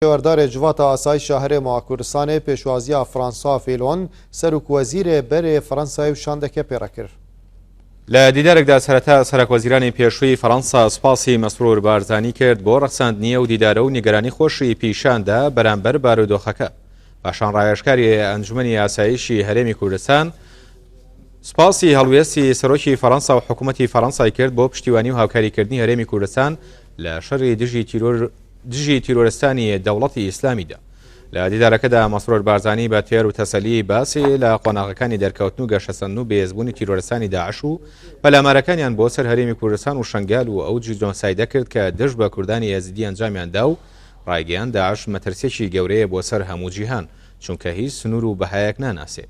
پێوەردارێ جڤاتا ئاسایش شاهرێ ماا کوردستانێ پێشوازییا فرانسا فیلۆن، سەروک وەزیرێ بەرێ فەرەنسای و شاندەکێ پێڕە کر. لە دیدارێکدا سەرەتا سەرەک وەزیرانی پێشووی فەرەنسا سوپاسی مەسرور بارزانی کرد بۆ ڕەخساندنی ئەو دیدارە و نیگەرانی خۆشی پیشان دا بەرامبەر بارودۆخەکە پاشان ڕاوێژکاری ئەنجومەنی ئاسایشی هەرێمی کوردستان سوپاسی هەڵوێستی سەرۆکی فەرەنسا و حکوومەتی فەرەنسای کرد بۆ پشتیوانی و هاوکاریکردنی هەرێمی کوردستان لە شەری دژی تیرۆر دژی تیرۆرستانی دەوڵەتی ئیسلامیدا. لە دیدارەکەدا مەسرۆر بارزانی بە تێر و تەسەلی باسی لە قۆناغەکانی دەرکەوتن و گەشەسەندن و بەهێزبوونی تیرۆرستانی داعش و پەلامارەکانیان بۆ سەر هەرێمی کوردستان و شەنگال و ئەو جیدۆنسایدە کرد کە دژ بە کوردانی ئێزیدی ئەنجامیان دا و ڕایگەیان داعش مەترسیەکی گەورەیە بۆ سەر هەموو جیهان چونکە هیچ سنوور و بەهایەک ناناسێ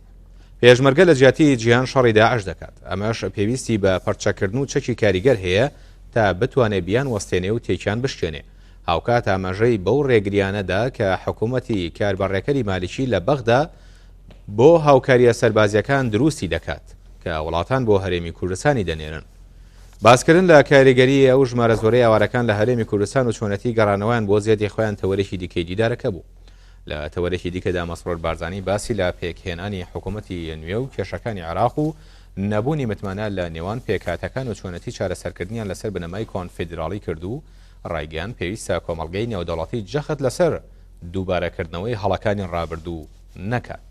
پێشمەرگە لە جیاتی جیهان شەڕی داعش دەکات ئەمەش پێویستی بە پەرچەکردن و چەکی کاریگەر هەیە تا بتوانێ بیان وەستێنێ و تێکیان بشکێنێ. هاوکات ئاماژەی بەو رێگریانە دا کە حکوومەتی کار بە رێکەری مالیکی لە بەغدا بۆ هاوکارییە سەربازییەکان دروستی دەکات کە وڵاتان بۆ هەرێمی کوردستانی دەنێرن. باسکردن لە کاریگەریی ئەو ژمارە زۆرەی ئاوارەکان لە هەرێمی کوردستان و چۆنێتیی گەڕانەوەیان بۆ زێدی خۆیان تەوەرێکی دیکەی دیدارەکە بوو. لە تەوەرێکی دیکە دا مەسرور بارزانی باسی لە پێکهێنانی حکوومەتی نوێ و کێشەکانی عێراق و نەبوونی متمانە لە نێوان پێکهاتەکان و چۆنێتی چارەسەرکردنیان لەسەر بنەمای کۆنفیدراڵی کرد و ڕایگەیاند پێویستە کۆمەڵگەی نێودەوڵەتی جەخت لەسەر دووبارەکردنەوەی هەڵەکانی ڕابردوو نەکات.